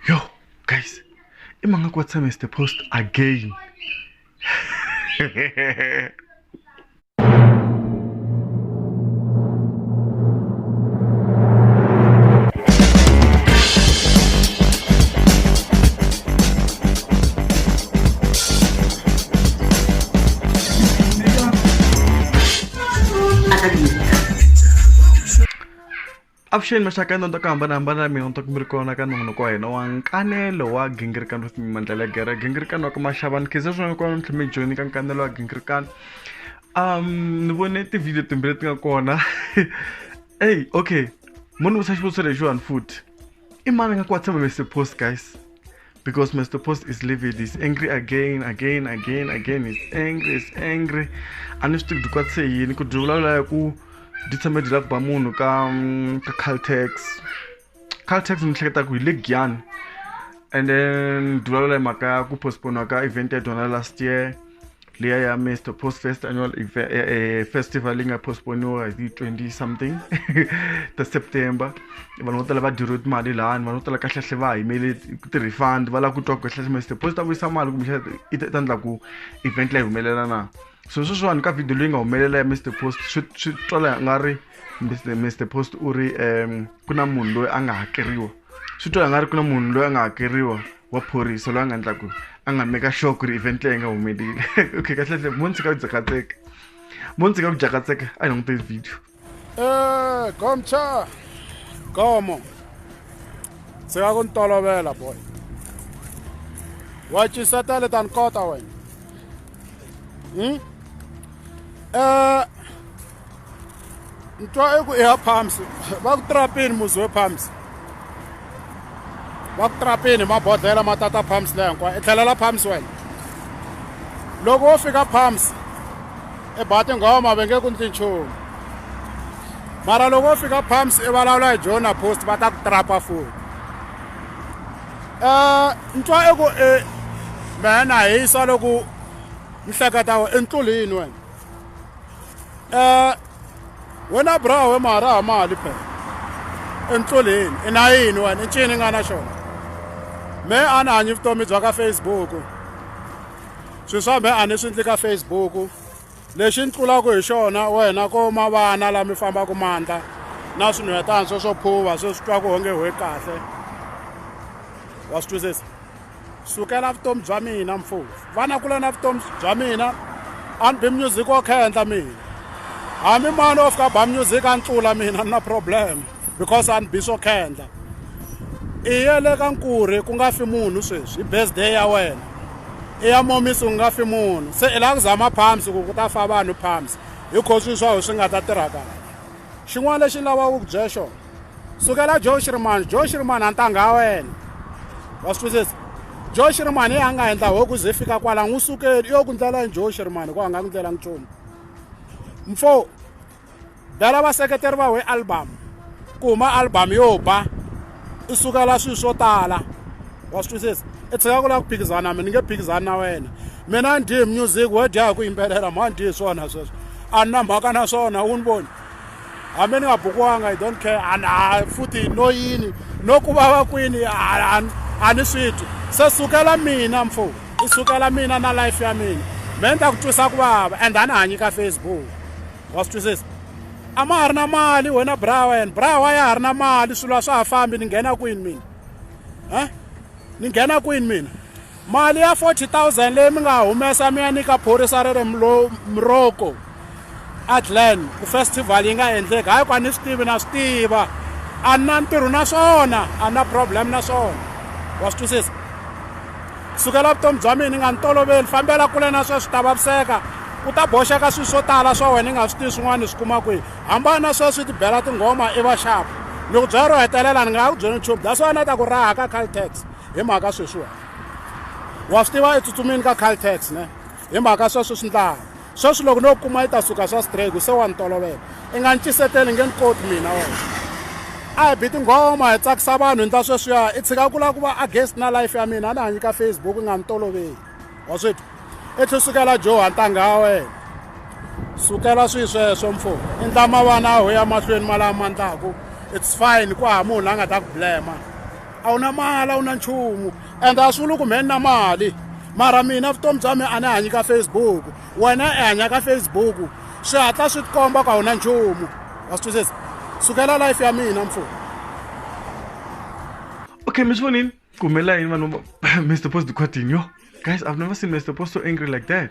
yo guys i mhanga ku wa tshame is the post again Avuxeni maxaka ya nonto ku hambanahambana la mina ntoku mi ri kona ka nongonoko wa hina wa nkanelo wa gingirikano wa timimandlela ya gere gingirikano wa ka maxavani khize swin'wana kona mintlhi mi joni ka nkanelo wa gingirikano um ni vone tivhidiyo timbirhi leti nga kona eyi okay mo ni vutisa xivutiso lexiwani futhi i mani nga ku wa tshama mi se post guys because Mr. Post is livid. He's angry again, again, again, again. He's angry, he's angry. A ni swi tivi dikwa se yini ku dyi vulavula ya ku dyi tshame dyi lava ku ba munhu ka mm, ka caltex caltex ni hleketa ku hi le giyani and then dyi vulavula hi mhaka ya ku postpone ka event ya dyona last year liya ya mr post fest annual eh, eh, festival yi nga postponiwa hi 20 something ta september vanhu vo tala va diriwe timali lani vanhu vo tala kahlehla va yimele ti-refund va lava ku twa ku kahlehla mr post ta vuyisa mali kumbe i ta endla ku event leyi humelela na so sweswiwani ka video leyi nga humelela ya mr post swi twala nga ri mr post u ri um ku na munhu loyi a nga hakeriwa swi twa nga ri ku na munhu loyi a nga hakeriwa wa phorisa loyi a nga endlaku a nga meka sure ku ri event leyi nga humeleli okay kahlekahle mo ndzi ka ku jakatseka mo ndzi ka ku jakatseka a hi languteni video eh gomcha gomo ndzi nga ku ni tolovela boy wa cisa tale ta ni kota wena hmm? eh ni twa eku i ya pumps va ku trapini muzi we pumps va ku trapini mabodhlela ma tata pumps leyi hinkwayo i tlhelela pumps wena loko wo fika pumps i ba tinghoma ma ve nge ku ndzi nchumu mara loko wo fika pumps i vulavula hi jona post va ta ku trapa futi um ni twa eku i mehe na hisa loko ni hleketa i ntlulini wena um wena bra we maharaha mali phela entloleni i na yini wena i ncini i nga na xona me a ni hanyi vutomi bya ka facebook swilo swa me a ni swi ndli ka facebook lexi ni tlulaka hi xona wena ko ma vana laha mi fambaka mandla na swinhwetana swo swo phuva swe swi twa ku onge hwe kahle wa swi twisisa sukela vutomi bya mina mfowethu vana kula na vutomi bya mina a ni bi music wa khendla mina hambi mani o fika ba music a ni tlula mina ni na problem because a ni bi swo khendla i ye le ka nkurhi ku nga fi munhu sweswi i birthday ya wena i ya momisi ku nga fi munhu se i lava ku zama palms ku ku ta fa vanhu palms hi kho swi swaho swi nga ta tirha kahle xin'wana lexi ni lavaka ku byela xona sukela joe shirimani joe shirimani a ntangha ya wena wa swi twisisa joe shirimani yi a nga endla hoku ze fika kwala n'wi sukeli yo ku ndlela ni joe shirimani ku a nga ku ndlela nchumu mfo bela vaseketeri va we album ku huma album yo ba i sukela swilo swo tala wa swi twisisa i tshika ku lava ku phikizana na mina ni nge phikizani na wena mina ni dye music wo dya hi ku yimbelela mhani dyi hi swona sweswo a ni na mhaka na swona wu ni voni hambi ni nga bukiwanga i don't care and a futhi no yini no ku vava kwini a ni swi twi se sukela mina mfo i sukela mina na life ya mina me ni ta ku twisa ku vava and a ni hanyi ka facebook wa swi twisisa a ma ha ri na mali wena bra wena bra wa ya ha ri na mali swilo a swa ha fambi ni nghena kwini mina um ni nghena kwini mina Mali ya 40,000 leyi mi nga humesa mi ya nyika phorisa ra le Morocco eGlen ku festival yi nga endleki hayi ku a ni swi tivi na swi tiva a ni na ntirho na swona a ni na problem na swona wa swi twisisa sukela vutomi bya mina ni nga ni toloveli fambela kule na sweswi ta vaviseka u ta boxeka swilo swo tala swa wena i nga swi tivi swin'wana swi kuma kwihi hambana na sweswi ti bela tinghoma i va xapu loko byela ro hetelela ni nga ha ku byela nchumu that's why na ta ku raha ka caltex Hi mhaka sweswiwani wa swi tiva etsutsumini ka caltex ne hi mhaka sweswi swi ndlaha sweswi loko no kuma yi ta suka swa strake se wa ni tolovela i nga ni ciseteli nge ni koti mina wena a hi bi tinghoma hi tsakisa vanhu hi ndla sweswiya i tshika ku lava ku va against na life ya mina a ni hanyi ka facebook i nga ni toloveli wa swi twa i tlhe sukela joha ntanga ya wena sukela swi sweswo mfo i ndla mavana aho ya mahlweni malama ndlaku it's fine ku hava munhu la nga ta ku blema a wu na mali a wu na nchumu and a swi vuli ku mhe ni na mali mara mina vutomi bya mina a ni hanyi ka facebook wena i hanya ka facebook swi hatla swi tikomba ku a wu na nchumu wa swi twisisa sukela life ya mina mfumo okay mi swi vonile ku humelela yini vanhu mr post quatini yo guys i've never seen mr post so angry like that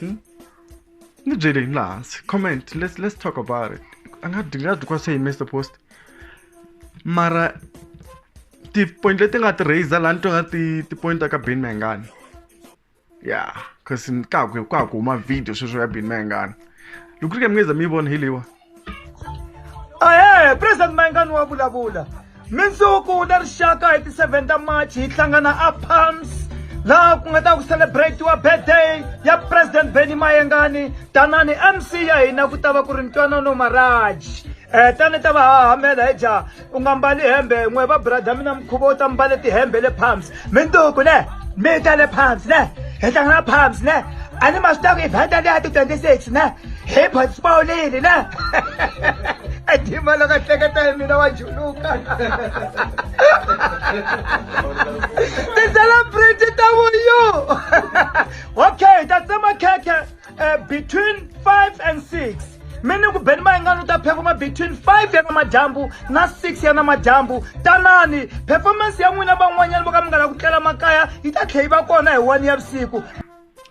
Hmm? ni byeleni laha comment let's, let's talk about it a nga dyi nga dyi kwa se hi mr post mara ti-point leti nga ti raiser laha ni twa nga ti ti-point ta ka ben mangani ya cause ka ku ka ku huma video sweswo ya ben mangani loko ri ke mi ngeza mi yi vona hi leyiwa ahe president mayengani wa vulavula mindzuku na rixaka hi ti-7 ta march hi hlangana a palms laha ku nga ta ku celebratiwa birthday ya president benny mayengani tanani mc ya hina ku ta va ku ri ntwanano maraji um eh, tani ta va hahamela hi jaha u nga mbali hembe n'we va brada mina mukhuva u ta mbale tihembe le palms minduku ne mi ta le palms ne hi tlanga na palms ne a ni ma swi taku evhenta leya ti twenty six ne hi participawulile ne edima loko hleketa hi mina wa juluka ti-celebrity ta vuyu okay ta tsema khekhe uh, between 5 and 6 mi ni ku beni mayingani u ta phefoma between 5 ya namadyambu na 6 ya namadyambu tanani performance ya n'wina van'wanyana vo ka mi nga la ku tlela makaya yi ta tlhe yi va kona hi 1 ya vusiku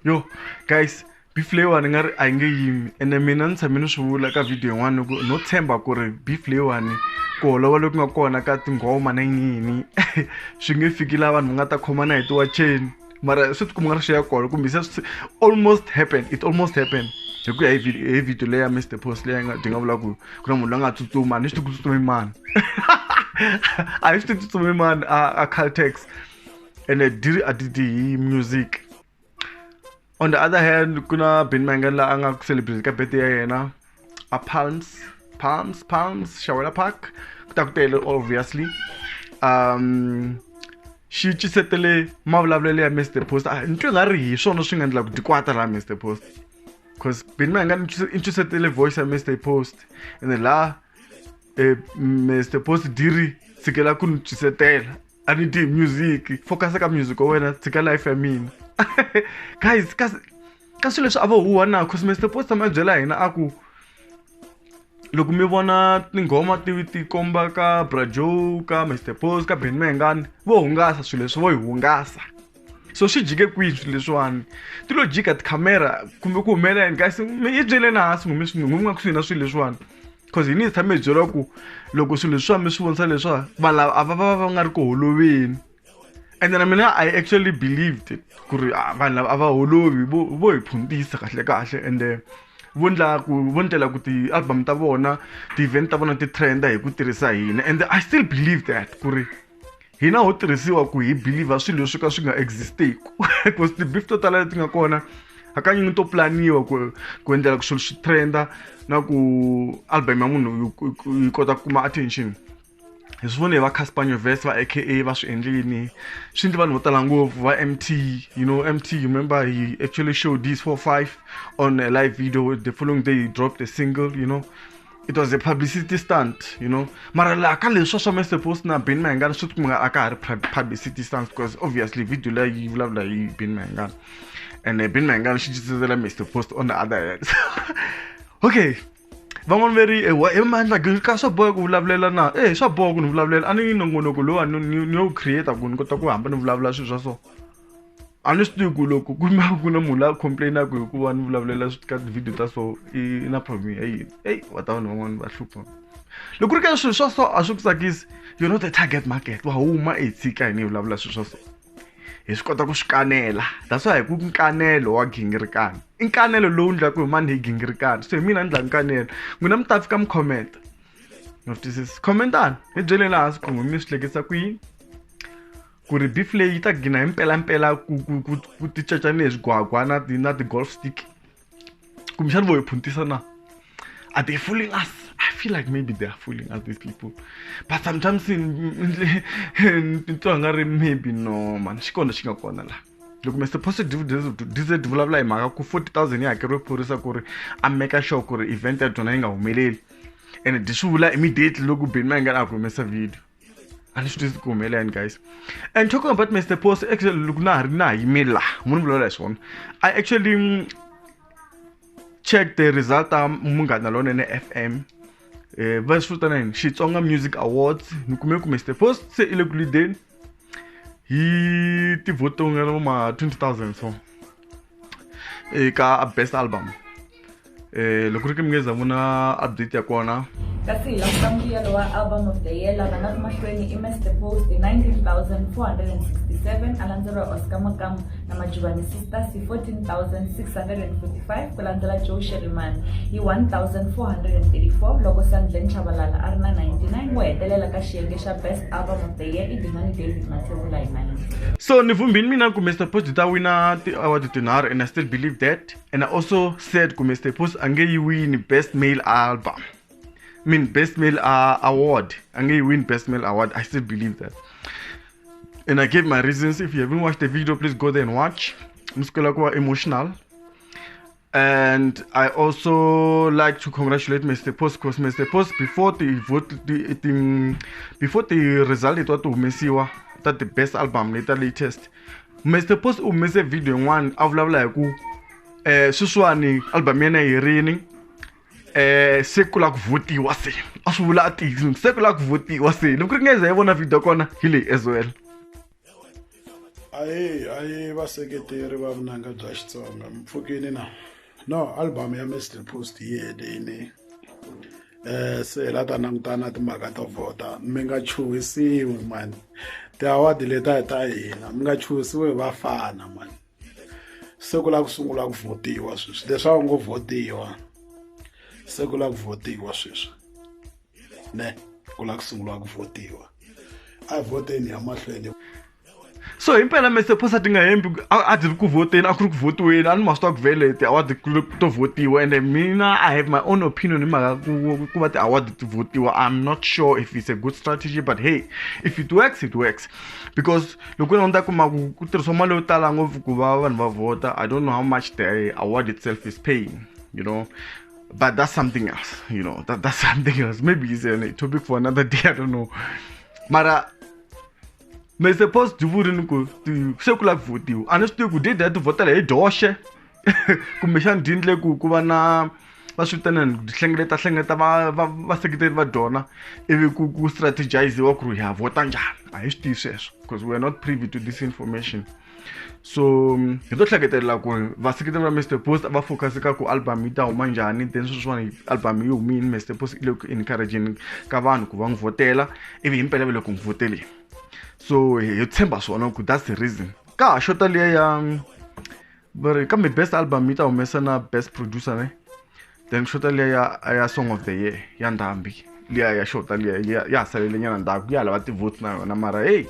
yo guys beef leyiwani ni nga ri a yi nge yimi ene mina ni tshame ni swi vula ka video yin'wana ku no tshemba ku ri beef leyiwani ku holova loku nga kona ka tinghoma na yiniyini swi nge fiki laha vanhu va nga ta khomana hi tiwacheni mara swi ti kuma nga ri xiya kona kumbe se swi almost happen it almost happen hi ku ya hi hi video leya mr post leyi nga byi nga vula ku ku na munhu loyi a nga tsutsuma ni swi tiku tsutsumi mani a hi swi ti tsutsumi mani a a caltex ene diri a ti ti hi music on the other hand ku na ben mangani la a nga ku celebrate ka birthday ya yena a Palms, Palms, Palms, Shawela Park, Kutakutele, obviously. Um, xi cisetele mavulavulelo ya mr post ah, ni twe nga ri hi swona swi nga endla ku dikwata laha mr post because bini ma hi nga ni cisetele voice ya mr post ene laha eh, mr post diri tshikela ku ni cisetela a ni dyi music focus ka music wa wena tshika life ya mina guys kasi ka swilo leswi a vo huwa na cause Mister Poster ma byela hina a ku loko mi vona tinghoma ti ti komba ka Bra Joe ka Mister Post ka Benny Mayengani vo hungasa swilo leswi vo yi hungasa so swi jike kwihi swilo leswiwani ti lo jika tikhamera kumbe ku humelela yini kasi mi yi byeleni hansi n'wina mi n'wina kusuhi na swilo leswiwani cause hina hi tshame hi byeriwa ku loko swilo leswiwa mi swi vonisa leswiwa vanhu lava a va va va va nga ri ku holoveli. and then I mean I actually believed it ku ri ah, vanhu lava a va holovi vo vo hi phuntisa kahle kahle and eh, vo ndla ku vo ndlela ku ti-album ta vona ti-event ta vona ti trenda hi ku tirhisa hina and i still believe that ku ri hina ho tirhisiwa ku hi believer swilo leswi ka swi nga existeku because ti-beef to tala leti nga kona hakanyingi to planiwa ku ku endlela ku swilo swi trenda na ku album ya munhu yi kota ku kuma attention hi swi vone va casper nyovest va aka va swi endlini swi ndli vanhu vo tala ngopfu va mt you know mt you remember he actually showed this four five on a live video the following day he dropped a single you know it was a publicity stunt you know mara laha ka leswi swa mr post na ben mayengana swi tikumeka a ka ha ri publicity stunt because obviously video leyi yi vulavula hi ben mayengana and uh, ben mayengana xi cicisela mr post on the other hand okay van'wani ve ri ewa he mandla ka swa boha ku vulavulela na ehe swa boha ku ni vulavulela a ni nongonoko lowuwani ni yo wu create-a ku ni kota ku hamba ni vulavula swilo swa so a ni swi tivi ku loko ku ma ku na munhu la complain-aku hikuva ni vulavulela ka ti-video ta so i na problem ya yini eyi va ta vanhu van'wani va hlupha loko ku ri ka swilo swa so a swi ku tsakisi you not the target market wa huma i hi tshika hina hi vulavula swilo swa so. hi swi kota ku swi kanela that's why hi ku nkanelo wa gingirikana i nkanelo lowu ndlaku hi mani hi gingirikana so hi mina ni ndla nkanelo n'wina mi ta fika mi khomenta no twisisi khomentani hi byeleni laha swi khungu mi swi hlekisa ku yini ku ri beef leyi yi ta gina hi mpelampela ku ku ku ku ti caca ni hi swigwagwa na ti na ti-golf stick kumbexana vo hi phuntisa na are they fooling us i feel like maybe they are fooling us these people but sometimes titwa nga ri maybe no mani xi kona xi nga kona laha loko mr positive dized vulavula hi mhaka ku 40 000 yi hakeriwe phorisa ku ri a meka sure ku ri event ya byona yi nga humeleli and di swi vula immediately loko benmangana a ku humesa video and swi tizi ku humelelani guys and talking about mr post actually loko na ha ri na ha yime laha mu ni vulavula hi swona i actually mm, check the result ta munghana lonene f m eh, va swi vitana yini xitsonga music awards ni kume ku mr post se i le ku lideni hi tivhoto nga ma 20 000 so eka best album eh loko ri ke mi nge za vona update ya kona kasi hi languta mbuyelo wa album of the year lava nga ri mahlweni i mr post hi 19467 a landzeriwa oscar makamu na majuvani sisters hi 14645 ku landzela joe sheriman hi 1434 loko sandlen chavalala a ri na 99 wo hetelela ka xiyenge xa best album the year ending on david mathevula hi mine so ni vumbini mina ku mr post ta wina ti-award tinharhu and i still believe that and i also said ku mr post a nge yi wini best male album I mean best male uh, award a nge yi win best male award i still believe that and i gave my reasons if you haven't watched the video please go there and watch mi sukela ku va emotional And I also like to congratulate Mr. Post because Mr. Post before the vote the, the before the result it was to Mesiwa that the best album later latest. Mr. Post u humese video yin'wana a vulavula hi ku eh sweswiwani album ya yena yi herini eh se ku la ku votiwa se a swi vula a tiyisini se ku la ku votiwa se loko ri nga za yi vona video kona hi leyi as well ayi ayi vaseketeri va vunanga bya xitsonga mpfukini na no album ya mr post yi helini um eh, se hi la ta langutana timhaka to vhota mi nga chuhisiwi mani tiawadi leta hi ta hina mi nga chuhisiwi hi vafana mani se ku la ku sungula ku vhotiwa sweswi leswaku ngo vhotiwa se ku la ku vhotiwa sweswi ne ku lava ku sunguriwa ku votiwa a vhoteni ya mahlweni so himpela mese phosa ti nga hembi a ti ri ku vhoteni a ku ri ku vhotiweni a ni ma swi twa ku vele ti-award to vhotiwa ende mina i have my own opinion hi mhaka ku va ti-award ti vhotiwa i'm not sure if it's a good strategy but hey if it works it works because loko na ta kuma ku ku tirhisiwa mali yo tala ngopfu ku va vanhu va vhota i don't know how much the award itself is paying you know but that's something else you know that, that's something else maybe it's a topic for another day i don't know mara me supposed to vote ni ku se ku lava votiwa a ni swi tivi ku date ya ti votela hi doxe kumbexani di endle ku ku va na va swi vitanani ku hlengeleta hlengeleta va va vaseketeri va dona ivi ku ku strategiziwa ku ri ha vota njhani a hi swi tivi sweswo because weare not privy to this information so hi to hleketelela ku ri vaseketeri va mr post va focus ka ku album yi ta huma njhani then sweswiwani album yi humini mr post i le ku encourageni ka vanhu ku va n'wi vhotela ivi himpela va le ku n'wi vhoteleni so hi tshemba swona ku that's the reason ka ha xota liya ya va ri kambe best album yi ta humesa na best producer ne then xota liya ya ya song of the year ya ndhambi liya ya xota liya ya ha salele nyana ndzhaku ya lava ti-votes na yona mara heyi